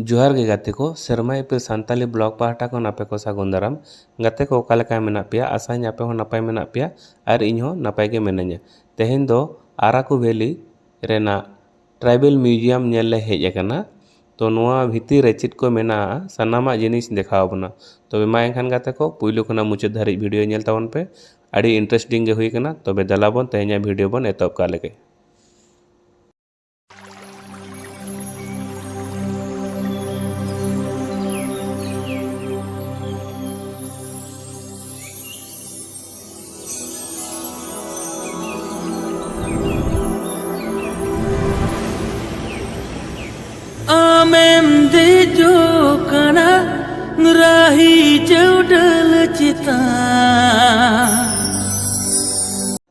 ᱡᱚᱦᱟᱨ ᱜᱮ ᱜᱟᱛᱮ ᱠᱚ ᱥᱮᱨᱢᱟ ᱤᱯᱤᱞ ᱥᱟᱱᱛᱟᱞᱤ ᱵᱞᱚᱜᱽ ᱯᱟᱦᱴᱟ ᱠᱷᱚᱱ ᱟᱯᱮ ᱠᱚ ᱥᱟᱹᱜᱩᱱ ᱫᱟᱨᱟᱢ ᱜᱟᱛᱮ ᱠᱚ ᱚᱠᱟ ᱞᱮᱠᱟ ᱢᱮᱱᱟᱜ ᱯᱮᱭᱟ ᱟᱥᱟᱧ ᱟᱯᱮ ᱦᱚᱸ ᱱᱟᱯᱟᱭ ᱢᱮᱱᱟᱜ ᱯᱮᱭᱟ ᱟᱨ ᱤᱧ ᱦᱚᱸ ᱱᱟᱯᱟᱭ ᱜᱮ ᱢᱤᱱᱟᱹᱧᱟ ᱛᱮᱦᱮᱧ ᱫᱚ ᱟᱨᱟᱠᱩ ᱵᱷᱮᱞᱤ ᱨᱮᱱᱟᱜ ᱴᱨᱟᱭᱵᱮᱞ ᱢᱤᱭᱩᱡᱤᱭᱟᱢ ᱧᱮᱞ ᱞᱮ ᱦᱮᱡ ᱟᱠᱟᱱᱟ ᱛᱚ ᱱᱚᱣᱟ ᱵᱷᱤᱛᱤᱨ ᱨᱮ ᱪᱮᱫ ᱠᱚ ᱢᱮᱱᱟᱜᱼᱟ ᱥᱟᱱᱟᱢᱟᱜ ᱡᱤᱱᱤᱥ ᱫᱮᱠᱷᱟᱣ ᱵᱚᱱᱟ ᱛᱚᱵᱮ ᱢᱟ ᱮᱱᱠᱷᱟᱱ ᱜᱟᱛᱮ ᱠᱚ ᱯᱳᱭᱞᱳ ᱠᱷᱚᱱᱟᱜ ᱢᱩᱪᱟᱹᱫ ᱫᱷᱟᱹᱨᱤᱡ ᱵᱷᱤᱰᱭᱳ ᱧᱮᱞ ᱛᱟᱵᱚᱱ ᱯᱮ ᱟᱹᱰᱤ ᱤᱱᱴᱟᱨᱮᱥᱴᱤᱝ ᱜᱮ ᱦᱩᱭ ᱠᱟᱱᱟ ᱛᱚᱵᱮ ᱫᱮᱞᱟ ᱵᱚᱱ ᱛᱮᱦᱮᱧᱟᱜ ᱵᱷᱤᱰᱭᱳ ᱵᱚᱱ ᱮᱛᱚᱦᱚᱵ ᱠᱟᱜ ᱞᱮᱜᱮ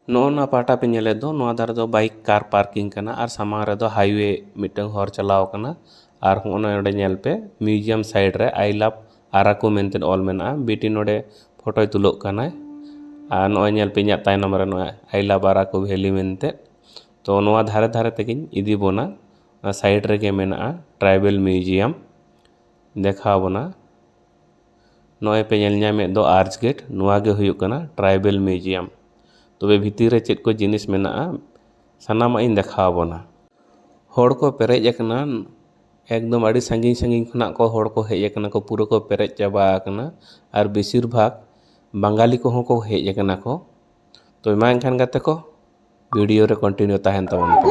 ᱱᱚᱜᱼᱱᱟ ᱯᱟᱦᱴᱟ ᱯᱮ ᱧᱮᱞᱮᱫ ᱫᱚ ᱱᱚᱣᱟ ᱫᱷᱟᱨᱮ ᱫᱚ ᱵᱟᱭᱤᱠ ᱠᱟᱨ ᱯᱟᱨᱠᱤᱝ ᱠᱟᱱᱟ ᱟᱨ ᱥᱟᱢᱟᱝ ᱨᱮᱫᱚ ᱦᱟᱭᱣᱮ ᱢᱤᱫᱴᱟᱝ ᱦᱚᱨ ᱪᱟᱞᱟᱣ ᱠᱟᱱᱟ ᱟᱨ ᱦᱚᱸᱜᱼᱚ ᱱᱚᱰᱮ ᱧᱮᱞ ᱯᱮ ᱢᱤᱭᱩᱡᱤᱭᱟᱢ ᱥᱟᱭᱤᱰ ᱨᱮ ᱟᱭ ᱞᱟᱵᱷ ᱟᱨᱟᱠᱩ ᱢᱮᱱᱛᱮ ᱚᱞ ᱢᱮᱱᱟᱜᱼᱟ ᱵᱤᱴᱤ ᱱᱚᱸᱰᱮ ᱯᱷᱳᱴᱳᱭ ᱛᱩᱞᱟᱹᱣᱚᱜ ᱠᱟᱱᱟᱭ ᱟᱨ ᱱᱚᱜᱼᱚᱭ ᱧᱮᱞ ᱯᱮ ᱤᱧᱟᱹᱜ ᱛᱟᱭᱱᱚᱢ ᱨᱮ ᱱᱚᱜᱼᱚᱭ ᱟᱭ ᱞᱟᱵᱷ ᱟᱨᱟᱠᱩ ᱵᱷᱮᱞᱤ ᱢᱮᱱᱛᱮ ᱛᱚ ᱱᱚᱣᱟ ᱫᱷᱟᱨᱮ ᱫᱷᱟᱨᱮ ᱛᱮᱜᱮᱧ ᱤᱫᱤ ᱵᱚᱱᱟ ᱚᱱᱟ ᱥᱟᱭᱤᱰ ᱨᱮᱜᱮ ᱢᱮᱱᱟᱜᱼᱟ ᱴᱨᱟᱭᱵᱮᱞ ᱢᱤᱭᱩᱡᱤᱭᱟᱢ ᱫᱮᱠᱷᱟᱣ ᱵᱚᱱᱟ ᱱᱚᱜᱼᱚᱭ ᱯᱮ ᱧᱮᱞ ᱧᱟᱢᱮᱫ ᱫᱚ ᱟᱨᱪ ᱜᱮᱴ ᱱᱚᱣᱟ ᱜᱮ ᱦᱩᱭᱩᱜ ᱠᱟᱱᱟ ᱴᱨᱟᱭᱵᱮᱞ ᱢᱤᱭᱩᱡᱤᱭᱟᱢ ᱛᱚᱵᱮ ᱵᱷᱤᱛᱤᱨ ᱨᱮ ᱪᱮᱫ ᱠᱚ ᱡᱤᱱᱤᱥ ᱢᱮᱱᱟᱜᱼᱟ ᱥᱟᱱᱟᱢᱟᱜ ᱤᱧ ᱫᱮᱠᱷᱟᱣ ᱵᱚᱱᱟ ᱦᱚᱲ ᱠᱚ ᱯᱮᱨᱮᱡ ᱟᱠᱟᱱᱟ ᱮᱠᱫᱚᱢ ᱟᱹᱰᱤ ᱥᱟᱺᱜᱤᱧ ᱥᱟᱺᱜᱤᱧ ᱠᱷᱚᱱᱟᱜ ᱠᱚ ᱦᱚᱲ ᱠᱚ ᱦᱮᱡ ᱠᱟᱱᱟ ᱠᱚ ᱯᱩᱨᱟᱹ ᱠᱚ ᱯᱮᱨᱮᱡ ᱪᱟᱵᱟ ᱟᱠᱟᱱᱟ ᱟᱨ ᱵᱮᱥᱤᱨ ᱵᱷᱟᱜᱽ ᱵᱟᱝᱜᱟᱞᱤ ᱠᱚᱦᱚᱸ ᱠᱚ ᱦᱮᱡ ᱠᱟᱱᱟ ᱠᱚ ᱛᱚ ᱢᱟ ᱮᱱᱠᱷᱟᱱ ᱜᱟᱛᱮ ᱠᱚ ᱵᱷᱤᱰᱤᱭᱳ ᱨᱮ ᱠᱚᱱᱴᱤᱱᱤᱭᱩ ᱛᱟᱦᱮᱱ ᱛᱟᱵᱚᱱ ᱯᱮ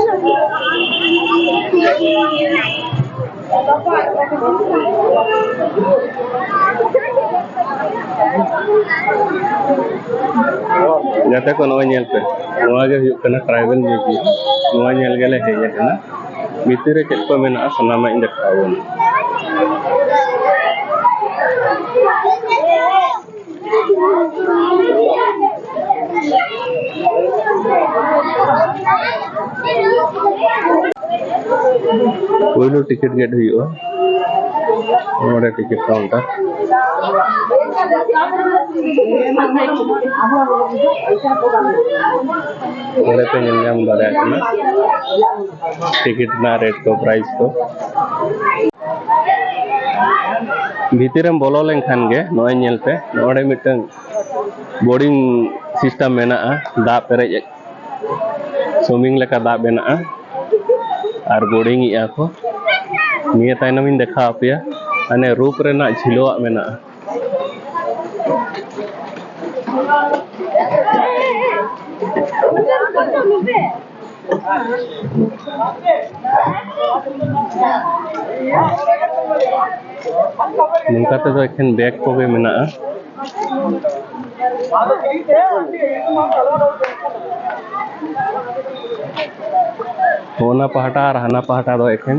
ᱜᱟᱛᱮ ᱠᱚ ᱱᱚᱜᱼᱚᱭ ᱧᱮᱞ ᱯᱮ ᱱᱚᱣᱟ ᱜᱮ ᱦᱩᱭᱩᱜ ᱠᱟᱱᱟ ᱴᱨᱟᱭᱵᱮᱞ ᱢᱤᱭᱩᱡᱤᱭᱟᱢ ᱱᱚᱣᱟ ᱧᱮᱞ ᱜᱮᱞᱮ ᱦᱮᱡ ᱟᱠᱟᱱᱟ ᱵᱷᱤᱛᱤᱨ ᱨᱮ ᱪᱮᱫ ᱠᱚ ᱢᱮᱱᱟᱜᱼᱟ ᱥᱟᱱᱟᱢᱟᱜ ᱤᱧ ᱫᱮᱠᱷᱟᱣ ᱟᱵᱚᱱᱟ ᱯᱳᱭᱞᱳ ᱴᱤᱠᱤᱴ ᱜᱮᱴ ᱦᱩᱭᱩᱜᱼᱟ ᱱᱚᱰᱮ ᱴᱤᱠᱤᱴ ᱠᱟᱣᱩᱱᱴᱟᱨ ᱱᱚᱰᱮ ᱯᱮ ᱧᱮᱞ ᱧᱟᱢ ᱫᱟᱲᱮᱭᱟᱜ ᱠᱟᱱᱟ ᱴᱤᱠᱤᱴ ᱨᱮᱱᱟᱜ ᱨᱮᱴ ᱠᱚ ᱯᱨᱟᱭᱤᱥ ᱠᱚ ᱵᱷᱤᱛᱤᱨᱮᱢ ᱵᱚᱞᱚ ᱞᱮᱱᱠᱷᱟᱱ ᱜᱮ ᱱᱚᱜᱼᱚᱭ ᱧᱮᱞ ᱯᱮ ᱱᱚᱰᱮ ᱢᱤᱫᱴᱟᱝ ᱵᱳᱨᱤᱝ ᱥᱤᱥᱴᱮᱢ ᱢᱮᱱᱟᱜᱼᱟ ᱫᱟᱜ ᱯᱮᱨᱮᱡ ᱥᱩᱢᱤᱝ ᱞᱮᱠᱟ ᱫᱟᱜ ᱢᱮᱱᱟᱜᱼᱟ ᱟᱨ ᱵᱳᱨᱤᱝ ᱮᱜᱼᱟ ᱠᱚ ᱱᱤᱭᱟᱹ ᱛᱟᱭᱱᱚᱢ ᱤᱧ ᱫᱮᱠᱷᱟᱣ ᱟᱯᱮᱭᱟ ᱦᱟᱱᱮ ᱨᱩᱯ ᱨᱮᱱᱟᱜ ᱡᱷᱤᱞᱣᱟᱹᱜ ᱢᱮᱱᱟᱜᱼᱟ ᱱᱚᱝᱠᱟ ᱛᱮᱫᱚ ᱮᱠᱷᱮᱱ ᱵᱮᱜᱽ ᱠᱚᱜᱮ ᱢᱮᱱᱟᱜᱼᱟ ᱚᱱᱟ ᱯᱟᱦᱴᱟ ᱟᱨ ᱦᱟᱱᱟ ᱯᱟᱦᱴᱟ ᱫᱚ ᱮᱠᱷᱮᱱ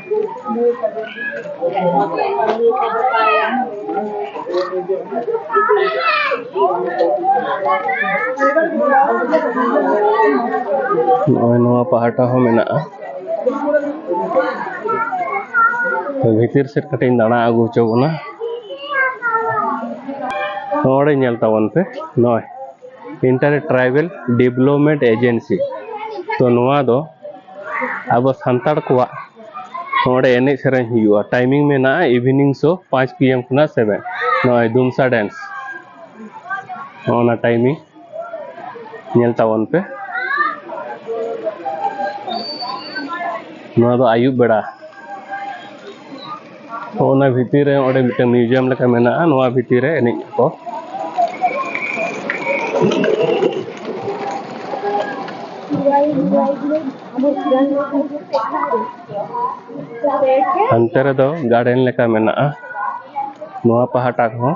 ᱱᱚᱜᱼᱚᱭ ᱱᱚᱣᱟ ᱯᱟᱦᱴᱟ ᱦᱚᱸ ᱢᱮᱱᱟᱜᱼᱟ ᱵᱷᱤᱛᱤᱨ ᱥᱮᱫ ᱠᱟᱹᱴᱤᱡ ᱤᱧ ᱫᱟᱬᱟ ᱟᱹᱜᱩ ᱦᱚᱪᱚ ᱵᱚᱱᱟ ᱱᱚᱰᱮ ᱧᱮᱞ ᱛᱟᱵᱚᱱ ᱯᱮ ᱱᱚᱜᱼᱚᱭ ᱤᱱᱴᱟᱨ ᱴᱨᱟᱭᱵᱮᱞ ᱰᱮᱵᱷᱞᱚᱯᱢᱮᱱᱴ ᱮᱡᱮᱱᱥᱤ ᱛᱚ ᱱᱚᱣᱟ ᱫᱚ ᱟᱵᱚ ᱥᱟᱱᱛᱟᱲ ᱠᱚᱣᱟᱜ ᱱᱚᱰᱮ ᱮᱱᱮᱡ ᱥᱮᱨᱮᱧ ᱦᱩᱭᱩᱜᱼᱟ ᱴᱟᱭᱢᱤᱝ ᱢᱮᱱᱟᱜᱼᱟ ᱤᱵᱷᱤᱱᱤᱝ ᱥᱳ ᱯᱟᱸᱪ ᱯᱤ ᱮᱢ ᱠᱷᱚᱱᱟᱜ ᱥᱮᱵᱷᱮᱱ ᱱᱚᱜᱼᱚᱭ ᱫᱩᱢᱥᱟ ᱰᱮᱱᱥ ᱱᱚᱜᱼᱚ ᱱᱟ ᱴᱟᱭᱢᱤᱝ ᱧᱮᱞ ᱛᱟᱵᱚᱱ ᱯᱮ ᱱᱚᱣᱟ ᱫᱚ ᱟᱹᱭᱩᱵ ᱵᱮᱲᱟ ᱛᱚ ᱚᱱᱟ ᱵᱷᱤᱛᱤᱨ ᱨᱮ ᱚᱸᱰᱮ ᱢᱤᱫᱴᱮᱱ ᱢᱤᱭᱩᱡᱤᱭᱟᱢ ᱞᱮᱠᱟ ᱢᱮᱱᱟᱜᱼᱟ ᱱᱚᱣᱟ ᱵᱷᱤᱛᱤᱨ ᱨᱮ ᱮᱱᱮᱡ ᱠᱚ ᱦᱟᱱᱛᱮ ᱨᱮᱫᱚ ᱜᱟᱨᱰᱮᱱ ᱞᱮᱠᱟ ᱢᱮᱱᱟᱜᱼᱟ ᱱᱚᱣᱟ ᱯᱟᱦᱴᱟ ᱦᱚᱸ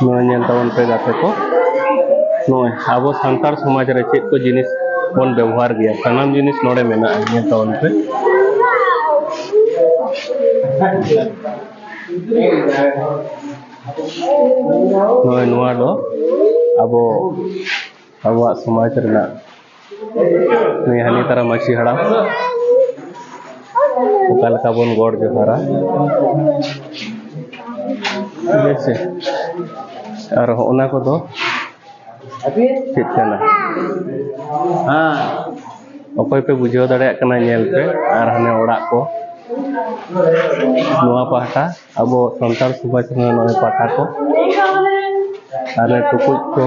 ᱱᱚᱣᱟ ᱧᱮᱞ ᱛᱟᱵᱚᱱ ᱯᱮ ᱜᱟᱛᱮ ᱠᱚ ᱱᱚᱜᱼᱚᱭ ᱟᱵᱚ ᱥᱟᱱᱛᱟᱲ ᱥᱚᱢᱟᱡᱽ ᱨᱮ ᱪᱮᱫ ᱠᱚ ᱡᱤᱱᱤᱥ ᱵᱚᱱ ᱵᱮᱵᱚᱦᱟᱨ ᱜᱮᱭᱟ ᱥᱟᱱᱟᱢ ᱡᱤᱱᱤᱥ ᱱᱚᱰᱮ ᱢᱮᱱᱟᱜᱼᱟ ᱧᱮᱞ ᱛᱟᱵᱚᱱ ᱯᱮ ᱱᱚᱜᱼᱚᱭ ᱱᱚᱣᱟ ᱫᱚ ᱟᱵᱚ ᱟᱵᱚᱣᱟᱜ ᱥᱚᱢᱟᱡᱽ ᱨᱮᱱᱟᱜ ᱱᱩᱭ ᱦᱟᱹᱱᱤ ᱛᱟᱨᱟ ᱢᱟᱹᱡᱷᱤ ᱦᱟᱲᱟᱢ ᱚᱠᱟ ᱞᱮᱠᱟ ᱵᱚᱱ ᱜᱚᱰ ᱡᱚᱦᱟᱨᱟ ᱴᱷᱤᱠ ᱟᱪᱷᱮ ᱟᱨ ᱚᱱᱟ ᱠᱚᱫᱚ ᱪᱮᱫ ᱠᱟᱱᱟ ᱚᱠᱚᱭ ᱯᱮ ᱵᱩᱡᱷᱟᱹᱣ ᱫᱟᱲᱮᱭᱟᱜ ᱠᱟᱱᱟ ᱧᱮᱞ ᱯᱮ ᱟᱨ ᱦᱟᱱᱮ ᱚᱲᱟᱜ ᱠᱚ ᱱᱚᱣᱟ ᱯᱟᱦᱴᱟ ᱟᱵᱚ ᱥᱟᱱᱛᱟᱲ ᱥᱚᱢᱟᱡᱽ ᱨᱮᱱᱟᱜ ᱱᱚᱣᱟ ᱯᱟᱦᱴᱟ ᱠᱚ ᱟᱨ ᱴᱩᱠᱩᱡ ᱠᱚ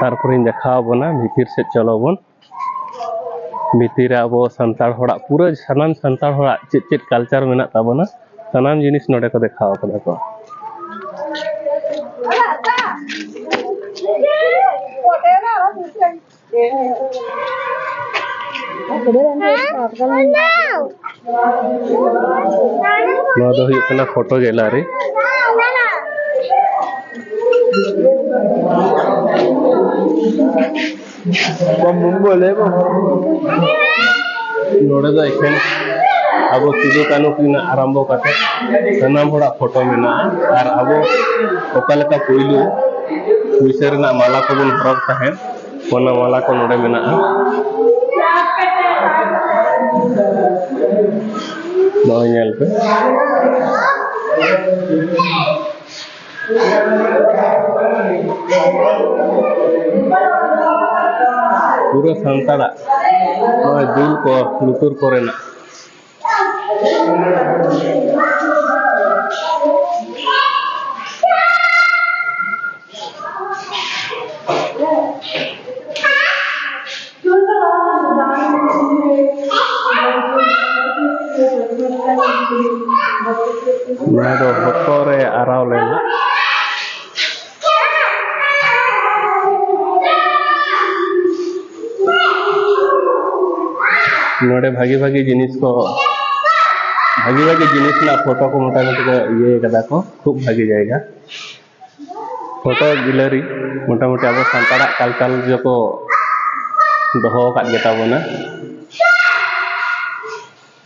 ᱛᱟᱨᱯᱚᱨᱮᱧ ᱫᱮᱠᱷᱟᱣ ᱟᱵᱚᱱᱟ ᱵᱷᱤᱛᱤᱨ ᱥᱮᱫ ᱪᱚᱞᱚ ᱵᱚᱱ ᱵᱷᱤᱛᱤᱨ ᱨᱮ ᱟᱵᱚ ᱥᱟᱱᱛᱟᱲ ᱦᱚᱲᱟᱜ ᱯᱩᱨᱟᱹ ᱥᱟᱱᱟᱢ ᱥᱟᱱᱛᱟᱲ ᱦᱚᱲᱟᱜ ᱪᱮᱫ ᱪᱮᱫ ᱠᱟᱞᱪᱟᱨ ᱢᱮᱱᱟᱜ ᱛᱟᱵᱚᱱᱟ ᱥᱟᱱᱟᱢ ᱡᱤᱱᱤᱥ ᱱᱚᱰᱮ ᱠᱚ ᱫᱮᱠᱷᱟᱣ ᱠᱟᱫᱟ ᱠᱚ ᱱᱚᱣᱟ ᱫᱚ ᱦᱩᱭᱩᱜ ᱠᱟᱱᱟ ᱯᱷᱳᱴᱳ ᱜᱮᱞᱟᱨᱤ ᱱᱚᱰᱮ ᱫᱚ ᱮᱠᱷᱮᱱ ᱟᱵᱚ ᱥᱤᱫᱩ ᱠᱟᱹᱱᱩ ᱠᱤᱱᱟᱜ ᱟᱨᱟᱢᱵᱚ ᱠᱟᱛᱮ ᱥᱟᱱᱟᱢ ᱦᱚᱲᱟᱜ ᱯᱷᱳᱴᱳ ᱢᱮᱱᱟᱜᱼᱟ ᱟᱨ ᱟᱵᱚ ᱚᱠᱟ ᱞᱮᱠᱟ ᱯᱩᱭᱞᱩ ᱯᱩᱭᱥᱟᱹ ᱨᱮᱱᱟᱜ ᱢᱟᱞᱟ ᱠᱚᱵᱚᱱ ᱦᱚᱨᱚᱜᱽ ᱛᱟᱦᱮᱸᱫ ᱚᱱᱟ ᱢᱟᱞᱟ ᱠᱚ ᱱᱚᱰᱮ ᱢᱮᱱᱟᱜᱼᱟ ᱱᱚᱜᱼᱚᱭ ᱧᱮᱞ ᱯᱮ ᱯᱩᱨᱟᱹ ᱥᱟᱱᱛᱟᱲᱟᱜ ᱱᱚᱜᱼᱚᱭ ᱫᱩᱞ ᱠᱚ ᱞᱩᱛᱩᱨ ᱠᱚᱨᱮᱱᱟᱜ ᱱᱚᱣᱟ ᱫᱚ ᱦᱚᱴᱚᱜ ᱨᱮ ᱟᱨᱟᱣ ᱞᱮᱱᱟ ᱱᱚᱰᱮ ᱵᱷᱟᱜᱤ ᱵᱷᱟᱜᱤ ᱡᱤᱱᱤᱥ ᱠᱚ ᱵᱷᱟᱜᱤ ᱵᱷᱟᱜᱤ ᱡᱤᱱᱤᱥ ᱨᱮᱱᱟᱜ ᱯᱷᱳᱴᱳ ᱠᱚ ᱢᱚᱴᱟᱢᱩᱴᱤ ᱠᱚ ᱤᱭᱟᱹ ᱠᱟᱫᱟ ᱠᱚ ᱠᱷᱩᱵ ᱵᱷᱟᱜᱤ ᱡᱟᱭᱜᱟ ᱯᱷᱳᱴᱳ ᱜᱮᱞᱟᱨᱤ ᱢᱚᱴᱟᱢᱩᱴᱤ ᱟᱵᱚ ᱥᱟᱱᱛᱟᱲᱟᱜ ᱠᱟᱞᱪᱟᱨ ᱡᱚᱠᱚ ᱫᱚᱦᱚ ᱟᱠᱟᱫ ᱜᱮᱛᱟ ᱵᱚᱱᱟ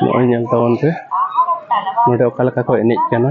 ᱱᱚᱜᱼᱚᱭ ᱧᱮᱞ ᱛᱟᱵᱚᱱ ᱯᱮ ᱱᱚᱰᱮ ᱚᱠᱟ ᱞᱮᱠᱟ ᱠᱚ ᱮᱱᱮᱡ ᱠᱟᱱᱟ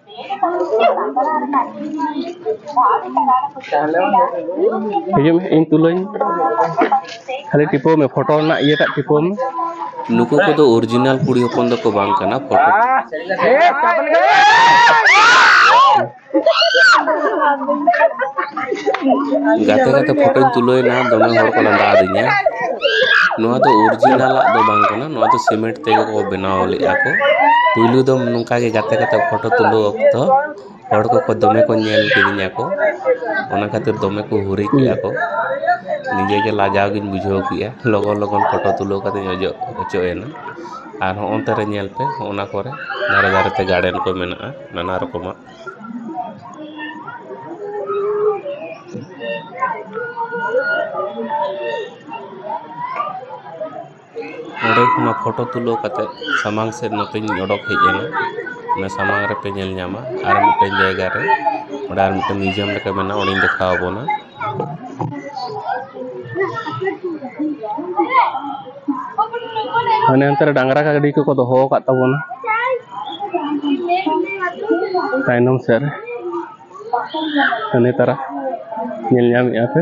ᱦᱤᱡᱩᱜ ᱢᱮ ᱤᱧ ᱛᱩᱞᱟᱹᱧ ᱠᱷᱟᱹᱞᱤ ᱴᱤᱯᱟᱹᱣ ᱢᱮ ᱯᱷᱳᱴᱳ ᱨᱮᱱᱟᱜ ᱤᱭᱟᱹᱴᱟᱜ ᱴᱤᱯᱟᱹᱣ ᱢᱮ ᱱᱩᱠᱩ ᱠᱚᱫᱚ ᱚᱨᱤᱡᱤᱱᱟᱞ ᱠᱩᱲᱤ ᱦᱚᱯᱚᱱ ᱫᱚᱠᱚ ᱵᱟᱝ ᱠᱟᱱᱟ ᱯᱷᱳᱴᱳ ᱜᱟᱛᱮ ᱜᱟᱛᱮ ᱯᱷᱳᱴᱳᱧ ᱛᱩᱞᱟᱹᱣ ᱮᱱᱟ ᱫᱚᱢᱮ ᱦᱚᱲ ᱠᱚ ᱞᱟᱸᱫᱟ ᱟᱹᱫᱤᱧᱟ ᱱᱚᱣᱟ ᱫᱚ ᱚᱨᱤᱡᱤᱱᱟᱞᱟᱜ ᱫᱚ ᱵᱟᱝ ᱠᱟᱱᱟ ᱱᱚᱣᱟ ᱫᱚ ᱥᱤᱢᱮᱱᱴ ᱛᱮᱜᱮ ᱠᱚ ᱵᱮᱱᱟᱣ ᱞᱮᱫᱼᱟ ᱠᱚ ᱯᱩᱭᱞᱩ ᱫᱚ ᱱᱚᱝᱠᱟ ᱜᱮ ᱜᱟᱛᱮ ᱜᱟᱛᱮ ᱯᱷᱳᱴᱳ ᱛᱩᱞᱟᱹᱣ ᱚᱠᱛᱚ ᱦᱚᱲ ᱠᱚᱠᱚ ᱫᱚᱢᱮ ᱠᱚ ᱧᱮᱞ ᱠᱤᱫᱤᱧᱟ ᱠᱚ ᱚᱱᱟ ᱠᱷᱟᱹᱛᱤᱨ ᱫᱚᱢᱮ ᱠᱚ ᱦᱩᱨᱤ ᱠᱮᱫᱼᱟ ᱠᱚ ᱱᱤᱡᱮ ᱜᱮ ᱞᱟᱡᱟᱣ ᱜᱤᱧ ᱵᱩᱡᱷᱟᱹᱣ ᱠᱮᱫᱼᱟ ᱞᱚᱜᱚᱱ ᱞᱚᱜᱚᱱ ᱯᱷᱳᱴᱳ ᱛᱩᱞᱟᱹᱣ ᱠᱟᱛᱮᱫ ᱤᱧ ᱚᱡᱚᱜ ᱦᱚᱪᱚ ᱮᱱᱟ ᱟᱨ ᱦᱚᱸᱜᱼᱚ ᱱᱚᱛᱮ ᱨᱮ ᱧᱮᱞ ᱯᱮ ᱦᱚᱸᱜᱼᱚ ᱱᱟ ᱠᱚᱨᱮ ᱫᱷᱟᱨᱮ ᱫᱷᱟᱨᱮ ᱛᱮ ᱜᱟᱨᱰᱮᱱ ᱠᱚ ᱢᱮᱱᱟᱜᱼᱟ ᱱᱟᱱᱟ ᱨᱚᱠᱚᱢᱟᱜ ᱚᱸᱰᱮ ᱠᱷᱚᱱᱟᱜ ᱯᱷᱳᱴᱳ ᱛᱩᱞᱟᱹᱣ ᱠᱟᱛᱮᱫ ᱥᱟᱢᱟᱝ ᱥᱮᱫ ᱱᱚᱛᱮᱧ ᱚᱰᱚᱠ ᱦᱮᱡ ᱮᱱᱟ ᱚᱱᱟ ᱥᱟᱢᱟᱝ ᱨᱮᱯᱮ ᱧᱮᱞ ᱧᱟᱢᱟ ᱟᱨ ᱢᱤᱫᱴᱮᱱ ᱡᱟᱭᱜᱟ ᱨᱮ ᱚᱸᱰᱮ ᱟᱨ ᱢᱤᱫᱴᱮᱱ ᱢᱤᱭᱩᱡᱤᱭᱟᱢ ᱞᱮᱠᱟ ᱢᱮᱱᱟᱜᱼᱟ ᱚᱸᱰᱮᱧ ᱫᱮᱠᱷᱟᱣ ᱟᱵᱚᱱᱟ ᱦᱟᱱᱮ ᱦᱟᱱᱛᱮ ᱨᱮ ᱰᱟᱝᱨᱟ ᱜᱟᱹᱰᱤ ᱠᱚᱠᱚ ᱫᱚᱦᱚ ᱟᱠᱟᱫ ᱛᱟᱵᱚᱱᱟ ᱛᱟᱭᱱᱚᱢ ᱥᱮᱫ ᱨᱮ ᱦᱟᱱᱮ ᱛᱟᱨᱟ ᱧᱮᱞ ᱧᱟᱢᱮᱫᱼᱟ ᱯᱮ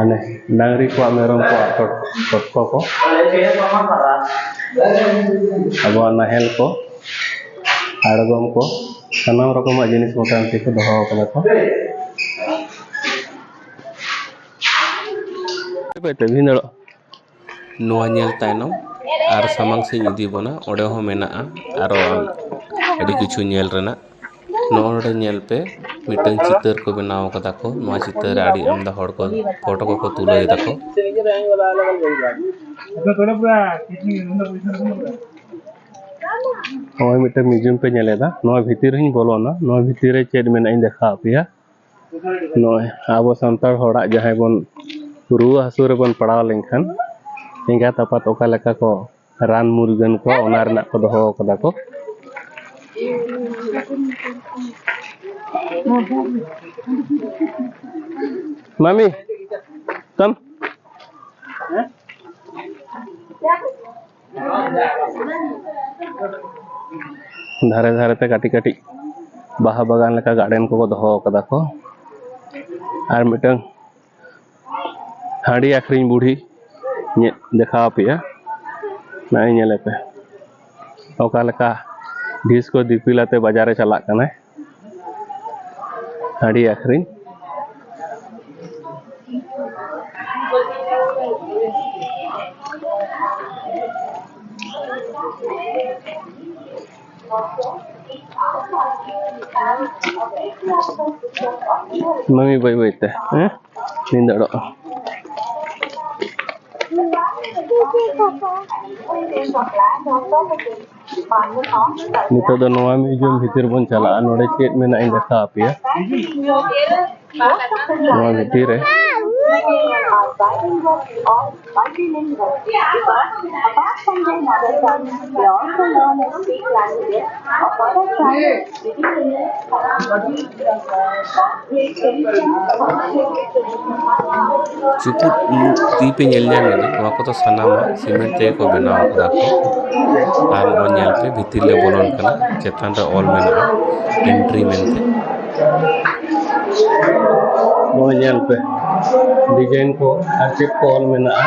ane ᱰᱟᱝᱨᱤ ᱠᱚᱣᱟᱜ ᱢᱮᱨᱚᱢ ᱠᱚᱣᱟᱜ ᱛᱚ- ᱛᱚᱛᱠᱚ ᱠᱚ ᱟᱵᱚᱣᱟᱜ ᱱᱟᱦᱮᱞ ᱠᱚ ᱟᱬᱜᱚᱢ ᱠᱚ ᱥᱟᱱᱟᱢ ᱨᱚᱠᱚᱢᱟᱜ ᱡᱤᱱᱤᱥ ᱢᱚᱴᱟᱢᱩᱴᱤ ᱠᱚ ᱫᱚᱦᱚ ᱠᱟᱫᱟ ᱠᱚ ᱚᱠᱚᱭ ᱛᱮ ᱵᱷᱤᱸᱫᱟᱹᱲᱚᱜᱼᱟ ᱱᱚᱣᱟ ᱧᱮᱞ ᱛᱟᱭᱱᱚᱢ ᱟᱨ ᱥᱟᱢᱟᱝ ᱥᱮᱫ ᱤᱧ ᱤᱫᱤ ᱵᱚᱱᱟ ᱚᱸᱰᱮ ᱦᱚᱸ ᱢᱮᱱᱟᱜᱼᱟ ᱟᱨᱚ ᱟᱹᱰᱤ ᱠᱤᱪᱷᱩ ᱧᱮᱞ ᱨᱮᱱᱟᱜ ᱱᱚᱰᱮ ᱧᱮᱞ ᱯᱮ ᱢᱤᱫᱴᱟᱹᱝ ᱪᱤᱛᱟᱹᱨ ᱠᱚ ᱵᱮᱱᱟᱣ ᱠᱟᱫᱟ ᱠᱚ ᱱᱚᱣᱟ ᱪᱤᱛᱟᱹᱨ ᱨᱮ ᱟᱹᱰᱤ ᱟᱢᱫᱟ ᱦᱚᱲ ᱠᱚ ᱯᱷᱳᱴᱳ ᱠᱚᱠᱚ ᱛᱩᱞᱟᱹᱣ ᱮᱫᱟ ᱠᱚ ᱱᱚᱜᱼᱚᱭ ᱢᱤᱫᱴᱮᱱ ᱢᱤᱭᱩᱡᱤᱭᱟᱢ ᱯᱮ ᱧᱮᱞᱮᱫᱟ ᱱᱚᱣᱟ ᱵᱷᱤᱛᱤᱨ ᱨᱤᱧ ᱵᱚᱞᱚᱱᱟ ᱱᱚᱣᱟ ᱵᱷᱤᱛᱤᱨ ᱨᱮ ᱪᱮᱫ ᱢᱮᱱᱟᱜᱼᱟ ᱤᱧ ᱫᱮᱠᱷᱟᱣ ᱟᱯᱮᱭᱟ ᱱᱚᱜᱼᱚᱭ ᱟᱵᱚ ᱥᱟᱱᱛᱟᱲ ᱦᱚᱲᱟᱜ ᱡᱟᱦᱟᱸᱭ ᱵᱚᱱ ᱨᱩᱣᱟᱹ ᱦᱟᱹᱥᱩ ᱨᱮᱵᱚᱱ ᱯᱟᱲᱟᱣ ᱞᱮᱱᱠᱷᱟᱱ ᱮᱸᱜᱟᱛ ᱟᱯᱟᱛ ᱚᱠᱟ ᱞᱮᱠᱟ ᱠᱚ ᱨᱟᱱ ᱢᱩᱨᱜᱟᱹᱱ ᱠᱚᱣᱟ ᱚᱱᱟ ᱨᱮᱱᱟᱜ ᱠᱚ ᱫᱚᱦᱚ ᱠᱟᱫᱟ ᱠᱚ ᱢᱟᱢᱤ ᱛᱟᱢ ᱫᱷᱟᱨᱮ ᱫᱷᱟᱨᱮ ᱛᱮ ᱠᱟᱹᱴᱤᱡ ᱠᱟᱹᱴᱤᱡ ᱵᱟᱦᱟ ᱵᱟᱜᱟᱱ ᱞᱮᱠᱟ ᱜᱟᱨᱰᱮᱱ ᱠᱚᱠᱚ ᱫᱚᱦᱚ ᱟᱠᱟᱫᱟ ᱠᱚ ᱟᱨ ᱢᱤᱫᱴᱟᱝ ᱦᱟᱺᱰᱤ ᱟᱹᱠᱷᱨᱤᱧ ᱵᱩᱲᱦᱤ ᱧᱮᱫ ᱫᱮᱠᱷᱟᱣ ᱟᱯᱮᱭᱟ ᱱᱚᱜᱼᱚᱭ ᱧᱮᱞᱮᱯᱮ ᱚᱠᱟ ᱞᱮᱠᱟ ᱰᱷᱤᱥ ᱠᱚ ᱫᱤᱯᱤᱞ ᱟᱛᱮ ᱵᱟᱡᱟᱨᱮ ᱪᱟᱞᱟᱜ ᱠᱟᱱᱟᱭ ᱦᱟᱺᱰᱤ ᱟᱹᱠᱷᱨᱤᱧ ᱢᱟᱹᱢᱤ ᱵᱟᱹᱭ ᱵᱟᱹᱭ ᱛᱮ ᱦᱮᱸ ᱱᱤᱫᱟᱹᱲᱚᱜᱼᱟ ᱱᱤᱛᱚᱜ ᱫᱚ ᱱᱚᱣᱟ ᱢᱤᱭᱩᱡᱤᱭᱟᱢ ᱵᱷᱤᱛᱤᱨ ᱵᱚᱱ ᱪᱟᱞᱟᱜᱼᱟ ᱱᱚᱰᱮ ᱪᱮᱫ ᱢᱮᱱᱟᱜᱼᱟ ᱤᱧ ᱫᱮᱠᱷᱟᱣ ᱟᱯᱮᱭᱟ ᱱᱚᱣᱟ ᱵᱷᱤᱛᱤᱨ ᱨᱮ ᱪᱩᱯᱩᱫ ᱛᱤ ᱯᱮ ᱧᱮᱞ ᱧᱟᱢ ᱮᱫᱟ ᱱᱚᱣᱟ ᱠᱚᱫᱚ ᱥᱟᱱᱟᱢᱟᱜ ᱥᱤᱢᱮᱱᱴ ᱛᱮᱜᱮ ᱠᱚ ᱵᱮᱱᱟᱣ ᱟᱠᱟᱫᱟ ᱠᱚ ᱟᱨ ᱱᱚᱜᱼᱚᱭ ᱧᱮᱞ ᱯᱮ ᱵᱷᱤᱛᱤᱨ ᱞᱮ ᱵᱚᱞᱚᱱ ᱠᱟᱱᱟ ᱪᱮᱛᱟᱱ ᱨᱮ ᱚᱞ ᱢᱮᱱᱟᱜᱼᱟ ᱮᱱᱴᱨᱤ ᱢᱮᱱᱛᱮ ᱱᱚᱜᱼᱚᱭ ᱧᱮᱞ ᱯᱮ ᱰᱤᱡᱟᱭᱤᱱ ᱠᱚ ᱟᱨ ᱪᱮᱫ ᱠᱚ ᱚᱞ ᱢᱮᱱᱟᱜᱼᱟ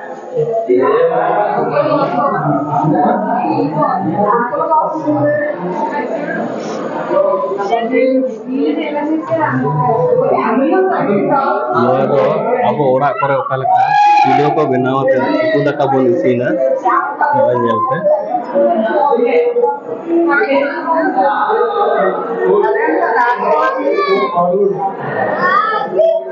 ᱱᱚᱣᱟ ᱫᱚ ᱟᱵᱚ ᱚᱲᱟᱜ ᱠᱚᱨᱮ ᱚᱠᱟ ᱞᱮᱠᱟ ᱪᱩᱞᱦᱟᱹ ᱠᱚ ᱵᱮᱱᱟᱣ ᱟᱛᱮ ᱩᱛᱩ ᱫᱟᱠᱟ ᱵᱚᱱ ᱤᱥᱤᱱᱟ ᱱᱚᱜᱼᱚᱭ ᱧᱮᱞ ᱯᱮ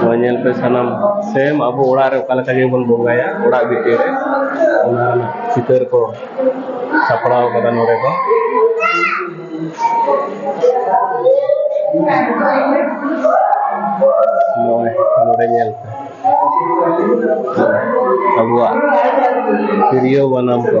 ᱱᱚᱣᱟ ᱧᱮᱞ ᱯᱮ ᱥᱟᱱᱟᱢ ᱥᱮᱢ ᱟᱵᱚ ᱚᱲᱟᱜ ᱨᱮ ᱚᱠᱟ ᱞᱮᱠᱟ ᱜᱮᱵᱚᱱ ᱵᱚᱸᱜᱟᱭᱟ ᱚᱲᱟᱜ ᱵᱷᱤᱛᱤᱨ ᱨᱮ ᱚᱱᱟ ᱨᱮᱱᱟᱜ ᱪᱤᱛᱟᱹᱨ ᱠᱚ ᱥᱟᱯᱲᱟᱣ ᱠᱟᱫᱟ ᱱᱚᱰᱮ ᱫᱚ ᱱᱚᱜᱼᱚᱭ ᱱᱚᱰᱮ ᱧᱮᱞ ᱯᱮ ᱟᱵᱚᱣᱟᱜ ᱛᱤᱨᱭᱳ ᱵᱟᱱᱟᱢ ᱠᱚ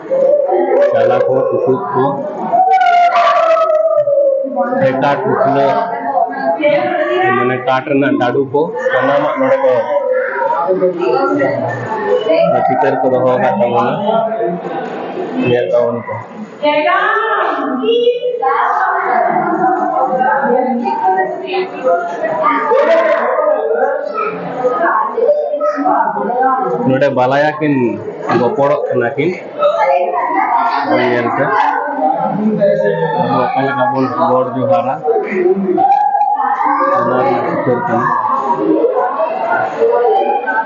ᱪᱟᱞᱟ ᱠᱚ ᱴᱩᱠᱩᱡ ᱠᱚ ᱦᱮᱴᱟ ᱴᱩᱠᱞᱟᱹ ᱢᱟᱱᱮ ᱠᱟᱴ ᱨᱮᱱᱟᱜ ᱰᱟᱰᱩ ᱠᱚ ᱥᱟᱱᱟᱢᱟᱜ ᱱᱚᱰᱮ ᱠᱚ ᱪᱤᱛᱟᱹᱨ ᱠᱚ ᱫᱚᱦᱚ ᱟᱠᱟᱫ ᱛᱟᱵᱚᱱᱟ ᱧᱮᱞ ᱛᱟᱵᱚᱱ ᱠᱚ ᱱᱚᱰᱮ ᱵᱟᱞᱟᱭᱟ ᱠᱤᱱ ᱜᱚᱯᱚᱲᱚᱜ ᱠᱟᱱᱟ ᱠᱤᱱ ᱧᱮᱞᱛᱮ ᱟᱵᱚ ᱚᱠᱟ ᱞᱮᱠᱟ ᱵᱚᱱ ᱜᱚᱰ ᱡᱚᱦᱟᱨᱟ ᱚᱱᱟ ᱨᱮᱱᱟᱜ ᱪᱤᱛᱟᱹᱨ ᱠᱟᱱᱟ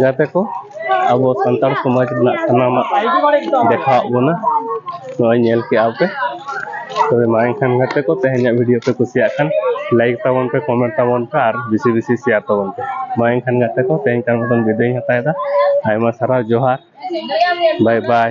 ᱜᱟᱛᱮ ᱠᱚ ᱟᱵᱚ ᱥᱟᱱᱛᱟᱲ ᱥᱚᱢᱟᱡᱽ ᱨᱮᱱᱟᱜ ᱥᱟᱱᱟᱢᱟᱜ ᱫᱮᱠᱷᱟᱣᱟᱜ ᱵᱚᱱᱟ ᱱᱚᱜᱼᱚᱭ ᱧᱮᱞ ᱠᱮᱜᱼᱟ ᱯᱮ ᱛᱚᱵᱮ ᱢᱟ ᱮᱱᱠᱷᱟᱱ ᱜᱟᱛᱮ ᱠᱚ ᱛᱮᱦᱮᱧᱟᱜ ᱵᱷᱤᱰᱤᱭᱳ ᱯᱮ ᱠᱩᱥᱤᱭᱟᱜ ᱠᱷᱟᱱ ᱞᱟᱭᱤᱠ ᱛᱟᱵᱚᱱ ᱯᱮ ᱠᱚᱢᱮᱱᱴ ᱛᱟᱵᱚᱱ ᱯᱮ ᱟᱨ ᱵᱮᱥᱤ ᱵᱮᱥᱤ ᱥᱮᱭᱟᱨ ᱛᱟᱵᱚᱱ ᱯᱮ ᱢᱟ ᱮᱱᱠᱷᱟᱱ ᱜᱟᱛᱮ ᱠᱚ ᱛᱮᱦᱮᱧ ᱠᱟᱱ ᱢᱚᱛᱚᱱ ᱵᱤᱫᱟᱹᱭᱤᱧ ᱦᱟᱛᱟᱣᱮᱫᱟ ᱟᱭᱢᱟ ᱥᱟᱨᱦᱟᱣ ᱡᱚᱦᱟᱨ ᱵᱟᱭ ᱵᱟᱭ